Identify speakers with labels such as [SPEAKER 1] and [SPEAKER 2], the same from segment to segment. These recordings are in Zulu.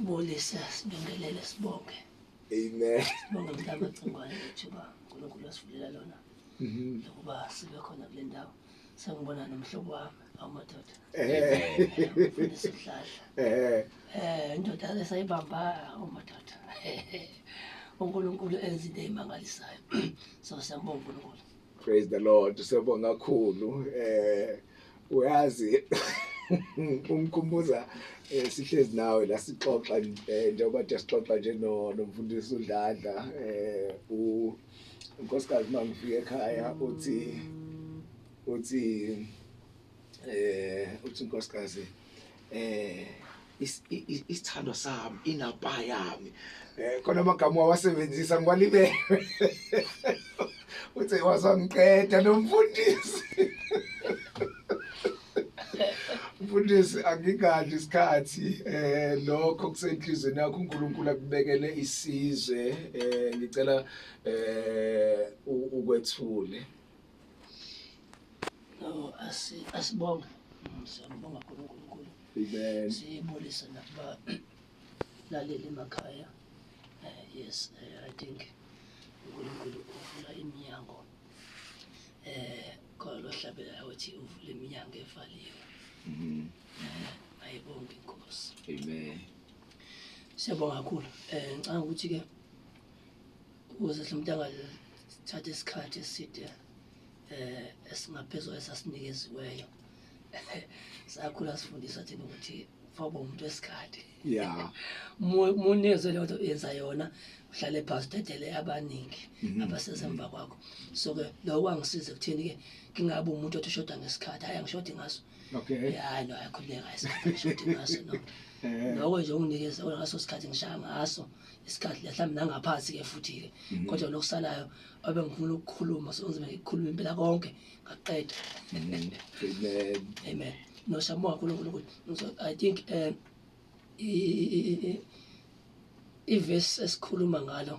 [SPEAKER 1] Bulise sibingelele sibonge. Amen.
[SPEAKER 2] Sibonge mhlaba
[SPEAKER 1] cingwane ithuba uNkulunkulu asivulela lona. Mhm. Lokuba sibe khona kule ndawo. Sengibona nomhlobo wami awumadoda. Eh. Sihlahla. Eh. Eh indoda esayibamba awumadoda. uNkulunkulu enza into emangalisayo. So siyambonga uNkulunkulu. Praise the Lord.
[SPEAKER 2] Siyabonga kakhulu. Eh uyazi umkhumbuza eh, sihlezi nawe la sixoxa eh, njengoba nje sixoxa nje nomfundisi uDladla eh u unkosikazi mangifike ekhaya uthi uthi eh uthi inkosikazi eh isithandwa sami inapa yami eh khona amagama wawasebenzisa ngiwalibele uthe wazangiqeda nomfundisi mfundisi angingadli isikhathi eh lokho kusenhlizweni yakho uNkulunkulu akubekele isizwe eh ngicela eh ukwethule
[SPEAKER 1] asibonge siyambonga khona uNkulunkulu
[SPEAKER 2] siyibulise nakuba
[SPEAKER 1] laleli emakhaya eh, yes eh, i think uNkulunkulu uvula iminyango eh khona lohlabela ukuthi uvula iminyango evaliwe mhm. eh, ayibonge inkosi
[SPEAKER 2] amen
[SPEAKER 1] siyabonga kakhulu um ngicanga ukuthi-ke ukuze somntanga sithathe isikhathi eside eh esingaphezulu esasinikeziweyo sakhula sifundisa thina ukuthi faba umuntu wesikhathi ya
[SPEAKER 2] munezwe
[SPEAKER 1] leyo nto yenza yona uhlale phasi udedele abaningi mhm. abasesemva kwakho so ke lokho kwangisiza ekutheni ke ngingabi umuntu othi ushoda ngesikhathi hayi angishodi ngaso okay hayi no
[SPEAKER 2] ayikhuleka
[SPEAKER 1] isikhathi ngishodi ngaso no eh. lokho nje unginikeza ngaso sikhathi ngishaya ngaso isikhathi mhlawumbe nangaphansi ke futhi ke mhm. kodwa lokusalayo abe ngifuna ukukhuluma sonzima ngikhuluma impela konke ngaqeda
[SPEAKER 2] mhm. amen
[SPEAKER 1] amen no shamo kakhulunkulu ukuthi i think um ivesi esikhuluma ngalo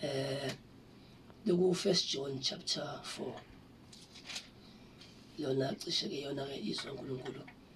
[SPEAKER 1] um loku-first john chapter four lona cishe-ke yona-ke izwa nkulunkulu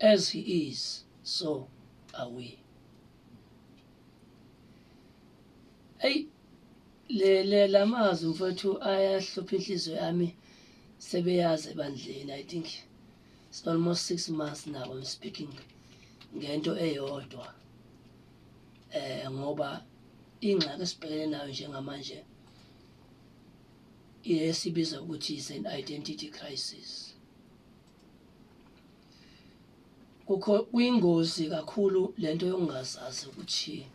[SPEAKER 1] As he is, so are we. Eyi le le lamazwi mfowethu ayahlupha inhliziyo yami sebeyazi ebandleni I think it's almost 6 months now I'm speaking ngento eyodwa eh ngoba ingxaki esibhekene nayo njengamanje esibiza ukuthi is an identity crisis kukho kuyingozi kakhulu lento yokungazazi ukuthi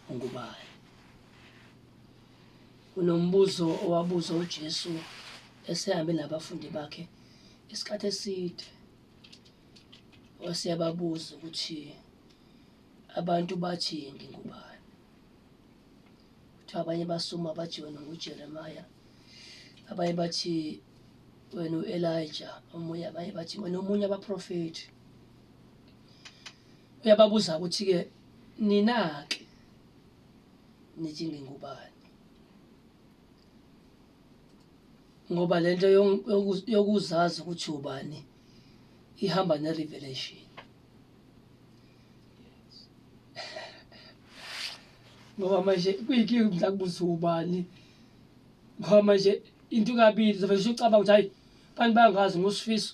[SPEAKER 1] ungubani kunombuzo owabuza uJesu esehambe nabafundi bakhe isikhathi eside waseyababuza ukuthi abantu bathi ngingubani kuthiwa abanye basuma bathi wena ngujeremaya abanye bathi wena u-elija omunye abanye bathi wena omunye abaprofethi uyababuza ukuthi-ke nina-ke nithi ngingubani ngoba lento yokuzazi ukuthi ubani ihamba ne-revelation ngoba manje kuyinkinga ukuthi ngizakubuza ubani ngoba manje into kabili zovele usucabanga ukuthi hayi abantu bangazi ngosifiso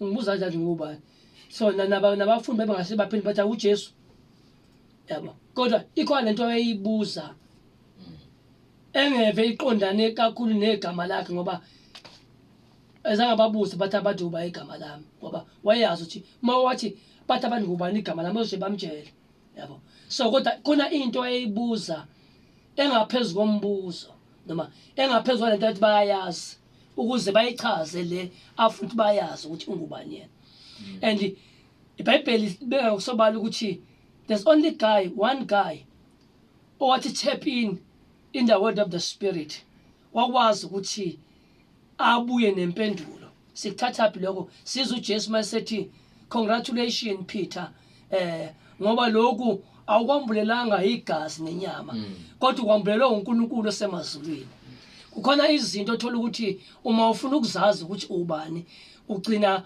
[SPEAKER 1] ngibuza kanjani ngubani so nabafundi bebengase baphinde bathi awujesu yabo kodwa ikhona lento eyibuza engeve iqondane kakhulu negama lakhe ngoba ezange babuze bathi abantu uba igama lami ngoba wayeyazi ukuthi uma wathi bathi abantu ngubani igama lami ozothi bamtshele yabo so kodwa khona into ayeyibuza engaphezu kombuzo noma engaphezu kwalento athi bayayazi ukuze bayichaze le afuthi bayazi ukuthi ungubani yena mm. and ibhayibheli libeka ngokusobala ukuthi there's only guy one guy owathi tap in in the world of the spirit wakwazi ukuthi abuye nempendulo sikuthathaphi lokho siza uJesu masethi congratulations Peter eh ngoba lokhu awukwambulelanga igazi nenyama mm. kodwa ukwambulelwe uNkulunkulu osemazulwini kukhona izinto othola ukuthi uma ufuna ukuzazi ukuthi ubani ugcina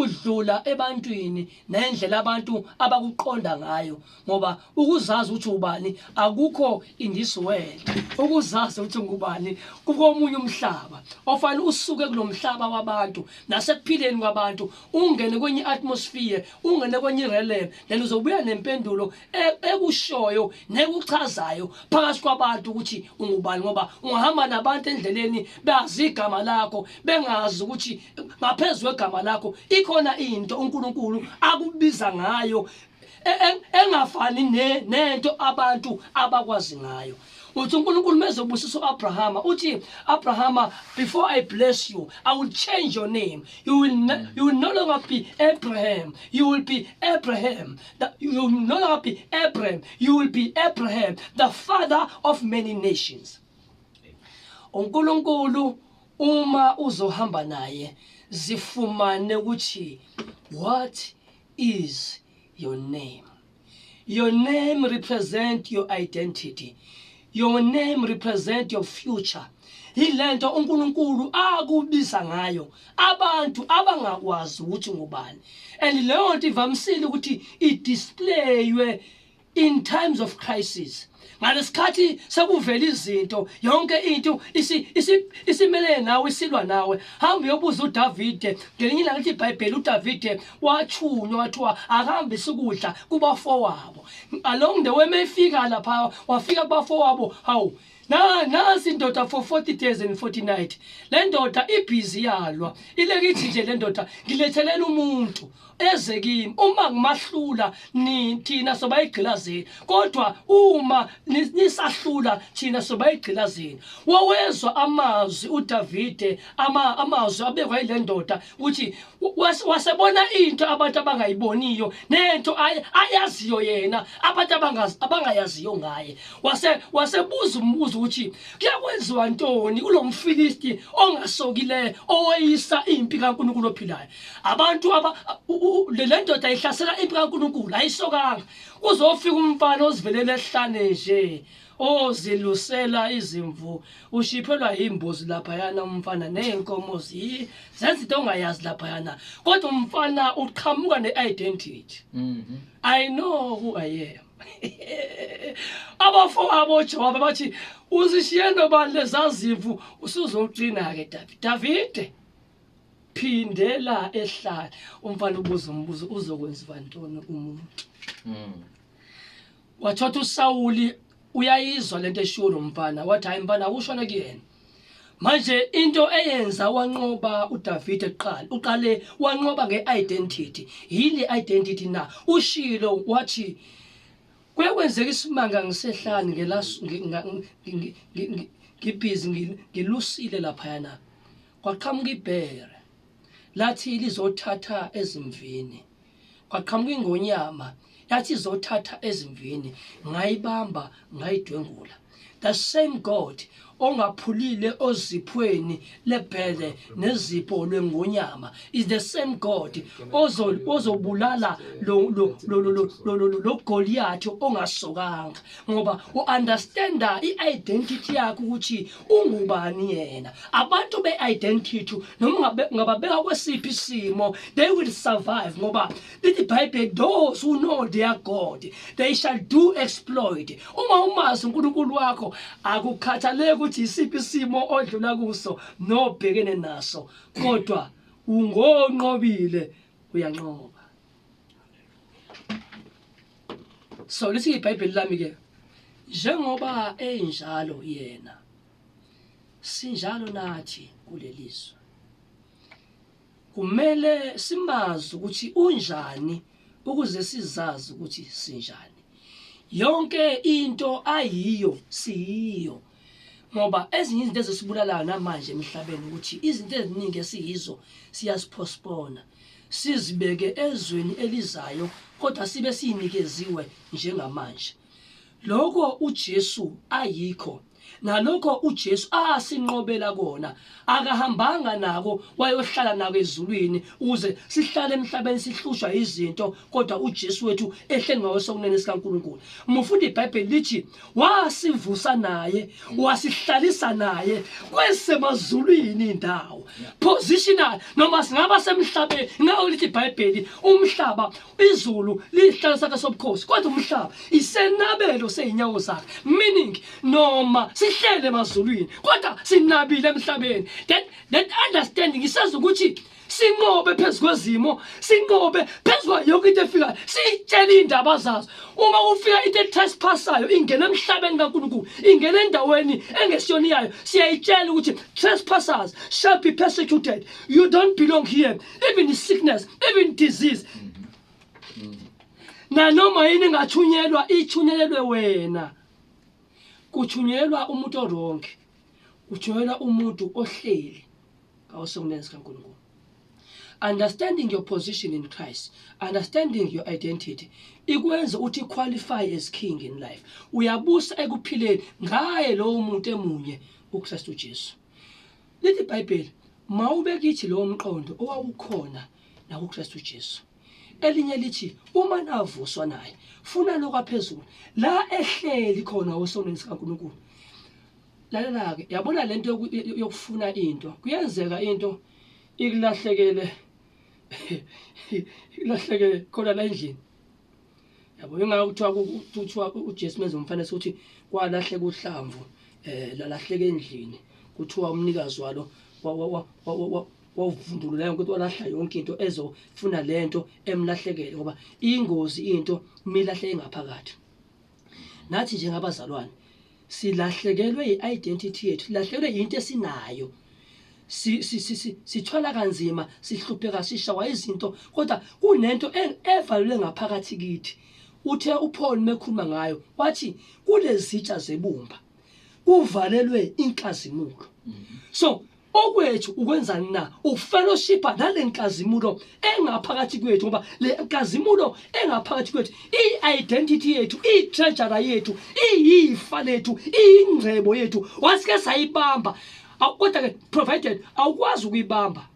[SPEAKER 1] udlula ebantwini nendlela abantu abakuqonda ngayo ngoba ukuzazi ukuthi ubani akukho in this world ukuzazi ukuthi ngubani kukomunye umhlaba ofanele usuke kulomhlaba wabantu nasekuphileni kwabantu ungene kwenye atmosphere ungene kwenye realm then uzobuya nempendulo e-, ekushoyo nekuchazayo phakathi kwabantu ukuthi ungubani ngoba ungahamba nabantu endleleni bazi igama lakho bengazi ukuthi ngaphezulu kwegama lakho ikhona into uNkulunkulu akubiza ngayo e, e, engafani nento abantu abakwazi ngayo uthi uNkulunkulu mezobusisa uAbrahama uthi Abrahama before I bless you I will change your name you will no, you will no longer be Abraham you will be Abraham the, you will no longer be Abraham you will be Abraham the father of many nations uNkulunkulu uma uzohamba naye zifumane ukuthi what is your name your name represent your identity your name represent your future yilento uNkulunkulu akubiza ngayo abantu abangakwazi ukuthi ngubani and leyo nto ivamisile ukuthi idisplay in times of crisis ngalesikhathi sekuvela izinto yonke into isimelele nawe isilwa nawe hamba uyobuza uDavide ngelinye ilanga lithi iBhayibheli uDavide wathunywa wathiwa akahambe sikudla kubafowabo along the way mefika lapha wafika kubafowabo hawu na nasi indoda for 40 days and 40 night le ndoda ibhizi yalwa ilekithi nje le ndoda ngilethelela umuntu eze kimi uma ngimahlula ni thina soba igqilazeni kodwa uma nisahlula thina soba igqilazeni wawezwa amazwi uDavide ama amazwi abekwa ile ndoda uthi wasebona into abantu abangayiboniyo nento ayaziyo yena abantu abangayaziyo ngaye wase wasebuza umbuzo ukuthi kuyakwenziwa ntoni kulomfilisti ongasokileyo oweyisa impi kaNkuluNkulu ophilayo abantu aba lendoda ihlasela impi kaNkuluNkulu ayisokanga kuzofika umfana ozivelela esihlane nje ozilusela izimvu ushiphelwa yimbuzi laphayana umfana neyenkomo zi zenza into ongayazi laphayana kodwa umfana uqhamuka ne-identity mhm. i know who i am abafowabo jowabe bathi uzishiye nobani lezazimvu usuzocina-ke davide davide phindela ehlala umfana ubuza umbuzo uzokwenziwa ntoni umuntu mm. wathotha uSawuli uyayizwa lento eshiwo lo mfana wathi hayi mfana awushone kuyena manje into eyenza wanqoba uDavide kuqala uqale wanqoba ngeidentity yini identity na ushilo wathi kwekwenzeka isimanga ngisehlani ngelasu ngibhizi ngilusile lapha yana kwaqhamuka ibhere lathi lizothatha ezimvini kwaqhamuka ingonyama yathi izothatha ezimvini ngayibamba ngayidwengula the same god ongaphulile oziphweni lebhele nezipho lwengonyama is the same god ozobulala lo goliyathi ongasokanga ngoba u-understanda i-identity yakho ukuthi ungubani yena abantu be-identity noma ungababeka kwesiphi isimo they will survive ngoba lithi ibhayibheli those who know their god they shall do exploit uma umazi unkulunkulu wakho akukhathaleki ukuthi yisiphi isimo odlula kuso nobhekene naso kodwa ungonqobile uyanqoba so lithi ibhayibheli lami ke njengoba enjalo yena sinjalo nathi kulelizwe kumele simazi ukuthi unjani ukuze sizazi ukuthi sinjani yonke into ayiyo siyiyo ngoba ezinye izinto ezisibulalayo namanje emhlabeni ukuthi izinto eziningi esiyizo siyaziphospona sizibeke ezweni elizayo kodwa sibe sinikeziwe njengamanje lokho uJesu ayikho nalokho uJesu asinqobela kona akahambanga nako wayohlala nako ezulwini ukuze sihlale emhlabeni sihlushwa izinto kodwa uJesu wethu ehle ngawesokunene sikaNkuluNkulu mufundi iBhayibheli lithi wasivusa naye wasihlalisa naye kwesemazulwini indawo positional noma singaba semhlabeni ngawo lithi iBhayibheli umhlaba izulu liyihlala sakhe sobukhosi kodwa umhlaba isenabelo seyinyawo zakhe meaning noma sihlele emazulwini kodwa sinabile emhlabeni that that understanding isazi ukuthi sinqobe phezu kwezimo sinqobe phezu kwayo yonke into efikayo siyitshele iy'ndaba zazo uma kufika into etrespassayo ingena emhlabeni kankulunkulu ingena endaweni engesiyona iyayo siyayitshela ukuthi trespassers shall be persecuted you don't belong here even sickness even disease nanoma yini ngathunyelwa ithunyelelwe wena kuthunyelwa umuntu oronke kuthunyelwa umuntu ohleli awusokunenzi kaNkulunkulu understanding your position in Christ understanding your identity ikwenza ukuthi qualify as king in life uyabusa ekuphileni ngaye lowo muntu emunye uKristu Jesu Lithi iBhayibheli, mawube kithi lowo mqondo owawukhona nakuKristu Jesu. Elinye lithi uma navuswa naye, funa lokwaphezulu, la ehleli khona osonweni sikaNkulunkulu. Lalela-ke, yabona le nto yokufuna into, kuyenzeka into ikulahlekele ikulahlekele khona la endlini. yabo ingakho kuthiwa kuthiwa uJesu menza umfanekiso ukuthi kwalahleka uhlamvu eh lalahleka endlini kuthiwa umnikazi walo wavundulula yonke into walahla yonke into ezofuna lento emlahlekele ngoba ingozi into milahle engaphakathi nathi njengabazalwane silahlekelwe i-identity yethu silahlekelwe yinto esinayo sithwala kanzima sihlupheka sishawa izinto kodwa kunento e-, evalule ngaphakathi kithi uthe uPaul mekhuluma ngayo wathi kulezitsha zebumba kuvalelwe inkazimulo mm-hmm. so Okwethu ukwenzani na? Ukufellowshipha nale nkazimulo engaphakathi kwethu ngoba le nkazimulo engaphakathi kwethu i-identity yethu i-treasure yethu iyifa lethu iyingcebo yethu wasike sayibamba kodwa ke provided awukwazi ukuyibamba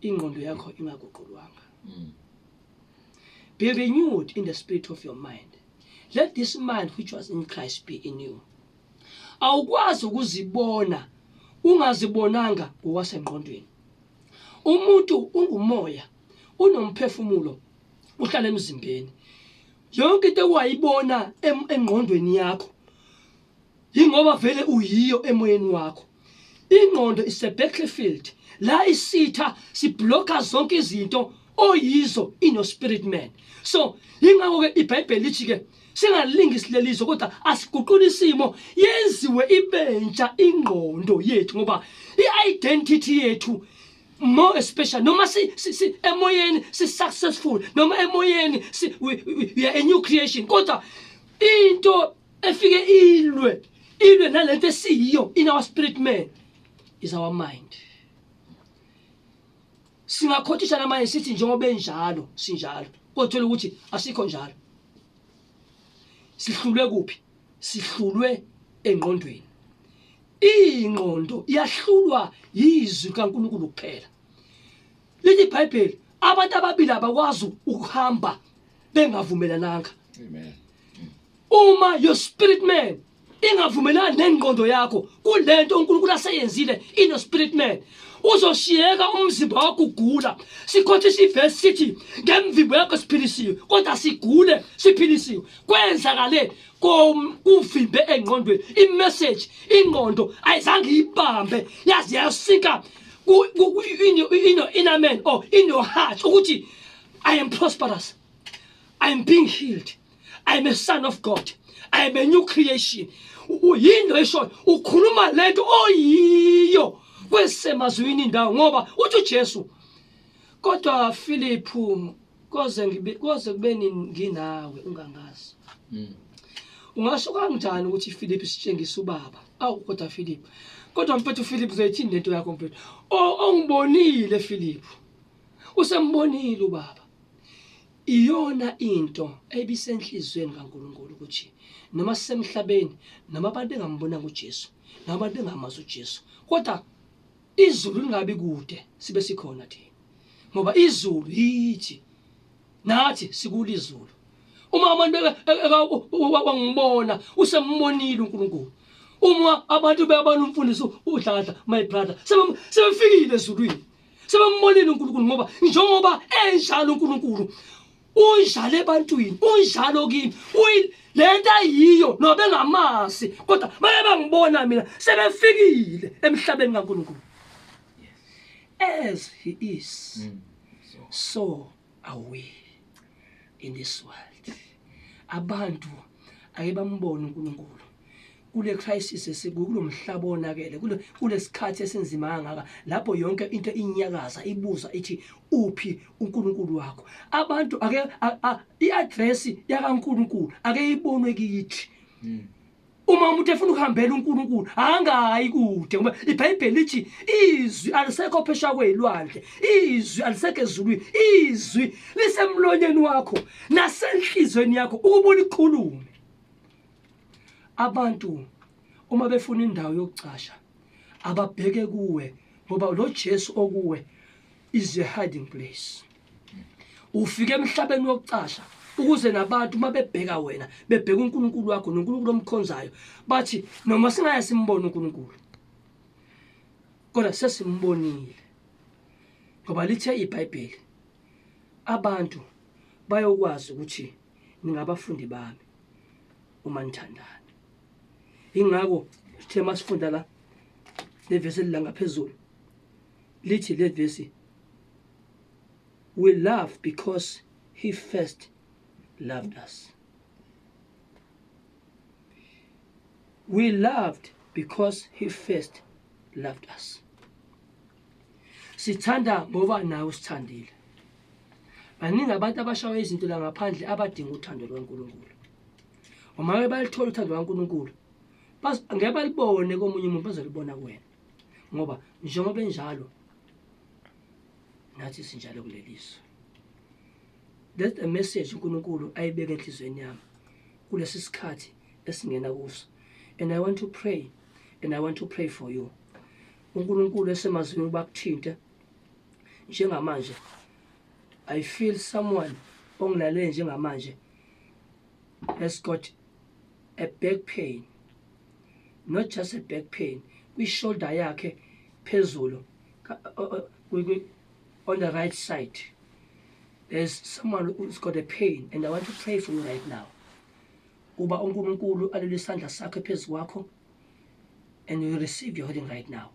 [SPEAKER 1] ingqondo yakho ingaguqulwanga hmm. be renewed in the spirit of your mind let this mind which was in Christ be in you awukwazi ukuzibona ungazibonanga ngokwasengqondweni umuntu ungumoya unomphefumulo uhlala emzimbeni yonke into owayibona engqondweni yakho yingoba vele uyiyo emoyeni wakho ingqondo isebattlefield la isitha sibloka zonke izinto oyizo inospirit man so yingakho-ke ibhayibheli lithi-ke singalingi silelizo kodwa asiguqula isimo yenziwe ibentsha ingqondo yethu ngoba i-identity yethu more especially noma si, si, si emoyeni si successful noma emoyeni si we, we, we are a new creation kodwa into efike ilwe ilwe nalento esiyiyo in our spirit man is our mind singakhothisha namanje sithi njengoba enjalo sinjalo kothola ukuthi asikho njalo sihlulwe kuphi sihlulwe engqondweni ingqondo iyahlulwa yizwi kaNkulunkulu kuphela lithi iBhayibheli abantu ababili abakwazi ukuhamba bengavumelananga amen
[SPEAKER 2] Uma
[SPEAKER 1] your spirit man ingavumelani nengqondo yakho kulento uNkulunkulu aseyenzile ino spirit man uzoshiyeka umzimba wakho ugula sikhothisa ivesi sithi ngemvimbo yakho siphilisiwe kodwa sigule siphilisiwe kwenzakale kuvimbe engqondweni imeseji ingqondo ayizange iyibambe yaze yasika inner man or in your heart ukuthi i am prosperous i am being healed i am a son of god i am a new creation uyinto eshoyo ukhuluma lento oyiyo kwesemazwini indawo ngoba uthi uJesu kodwa Philip koze ngibe koze kube nginawe ungangazi hmm. ungasho kanjani ukuthi Philip sitshengisa ubaba awu kodwa Philip kodwa mfethu Philip uzoyithini lento yakho mfethu ongibonile Philip usembonile ubaba Iyona into ebisenhliziyweni kaNkulunkulu ukuthi noma sisemhlabeni noma abantu engambonanga uJesu noma abantu engamazi uJesu kodwa izulu lingabi kude sibe sikhona thina ngoba izulu yithi nathi sikulizulu uma abantu wangibona usembonile uNkulunkulu uma abantu beyabona umfundisi udladla my brother sebefikile ezulwini sebembonile uNkulunkulu ngoba njengoba enjalo uNkulunkulu unjalo ebantwini unjalo kimi lento ayiyo nobengamazi kodwa baye bangibona mina sebefikile emhlabeni kaNkulunkulu as he is mm. so Away in this world. Abantu ake bambone uNkulunkulu kule crisis esikulo mhlaba onakele kule kulesikhathi esinzima kangaka lapho yonke into inyakaza ibuza ithi uphi uNkulunkulu wakho abantu ake iaddress yakaNkulunkulu ake ibonwe kithi hmm. uma umuntu efuna ukuhambela uNkulunkulu angayi kude ngoba iBhayibheli lithi izwi alisekho phesha kwezilwandle izwi alisekho ezulwini izwi lisemlonyeni wakho nasenhlizweni yakho ukuba ulikhulume abantu uma befuna indawo yokucasha ababheke kuwe ngoba lo Jesu okuwe is a hiding place ufike emhlabeni wokucasha ukuze nabantu uma bebheka wena bebheka unkulunkulu wakho nonkulunkulu omkhonzayo bathi noma singaye simbone unkulunkulu kodwa sesimbonile ngoba lithe ibhayibheli abantu bayokwazi ukuthi ningabafundi bami uma nithandana ingakho sithe masifunda la levesi elingaphezulu Lithi le vesi, We love because he first loved us. We loved because he first loved us. Sithanda ngoba nawe usithandile. Baningi abantu abashawa izinto la ngaphandle abadinga uthando lwaNkulunkulu. Uma ke balithola uthando lwaNkulunkulu, ngeke balibone komunye umuntu bazolibona kuwena. ngoba njengoba enjalo nathi sinjalo kuleliso that's the message uNkulunkulu ayibeke enhlizweni yami kulesi sikhathi esingena kuso and i want to pray and i want to pray for you uNkulunkulu esemazulwini bakuthinte njengamanje i feel someone ongilalele njengamanje has got a back pain not just a back pain kwi-shoulder yakhe phezulu on the right side there's someone who's got a pain and i want to pray for you right now uba unkulunkulu alule isandla sakhe phezu kwakho and you receive your healing right now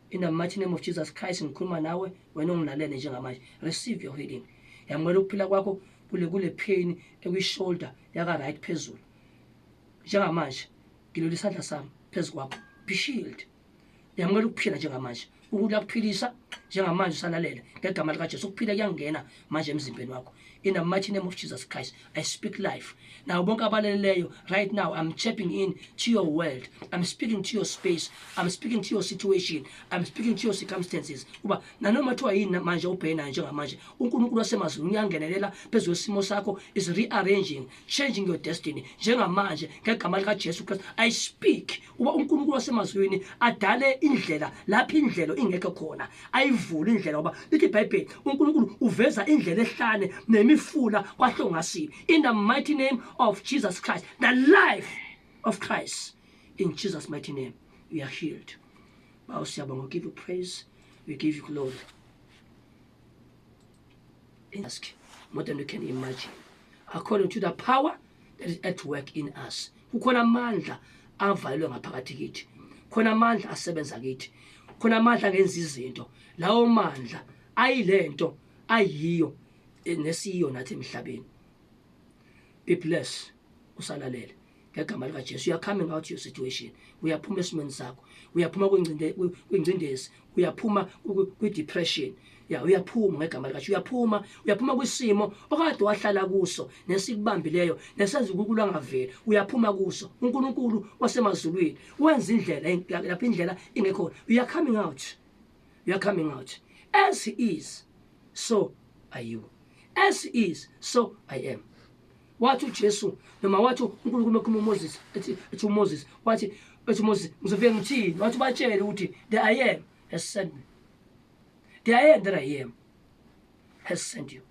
[SPEAKER 1] in the mighty name of jesus christ ngikhuluma nawe wena ongilalele njengamanje receive your healing yamukela ukuphila kwakho kule kule pain ekwi-shoulder yaka-right phezulu njengamanje ngilolu isandla sami phezu kwakho be shield yamukela ukuphila njengamanje uNkulunkulu akuphilisa njengamanje usalalela ngegama likaJesu ukuphila kuyangena manje emzimbeni wakho in the mighty name of Jesus Christ I speak life now bonke abaleleyo right now I'm tapping in to your world I'm speaking to your space I'm speaking to your situation I'm speaking to your circumstances uba nanoma kuthiwa yini manje ubhena njengamanje uNkulunkulu wasemazulwini uyangenelela phezu kwesimo sakho is rearranging changing your destiny njengamanje ngegama likaJesu Kristu i speak uba uNkulunkulu wasemazulwini adale indlela lapho indlela ingekho khona ayivule indlela uba lithi iBhayibheli uNkulunkulu uveza indlela ehlane nemifula kwahlongasile in the mighty name of Jesus Christ the life of Christ in Jesus mighty name you are healed Bawo siyabonga give you praise we give you glory ask more than you can imagine according to the power that is at work in us kukhona amandla avalelwe ngaphakathi kithi khona amandla asebenza kithi khona amandla angenza izinto lawo mandla ayilento ayiyo nesiyo nathi emhlabeni be bless usalalele ngegama likaJesu you're coming out your situation uyaphuma esimweni sakho uyaphuma kwingcinde kwingcindezi uyaphuma kwi depression ya uyaphuma ngegama likaJesu uyaphuma uyaphuma kwisimo okade wahlala kuso nesikubambileyo nesenza ukukula ngaveli uyaphuma kuso uNkulunkulu wasemazulwini wenza indlela lapha indlela ingekho you are coming out you are coming out as he is so are you as he is so i am wathi uJesu noma wathi uNkulunkulu ekhuluma uMoses ethi ethi uMoses wathi ethi uMoses ngizofike ngithini wathi batshele ukuthi the I am has sent me the I am that I am has sent you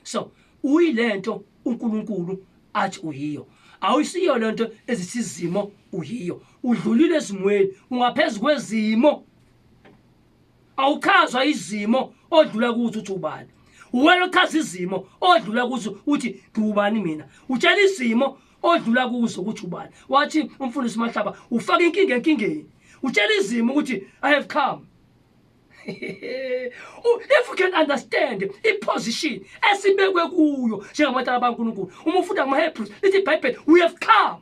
[SPEAKER 1] so uyilento uNkulunkulu athi uyiyo awusiyo lento ezithi izimo uyiyo udlulile ezimweni ungaphezulu kwezimo awuchazwa izimo odlula kuzo uthi ubani uwena ochaza izimo odlula kuzo uthi ngiwubani mina utshela izimo odlula kuzo ukuthi ubani wathi umfundisi mahlaba ufaka inkinga enkingeni utshela izimo ukuthi i have come if you can understand iposition esibekwe kuyo njengamatala bankulunkulu uma ufunda kumahebrews lithi ibhayibheli we have come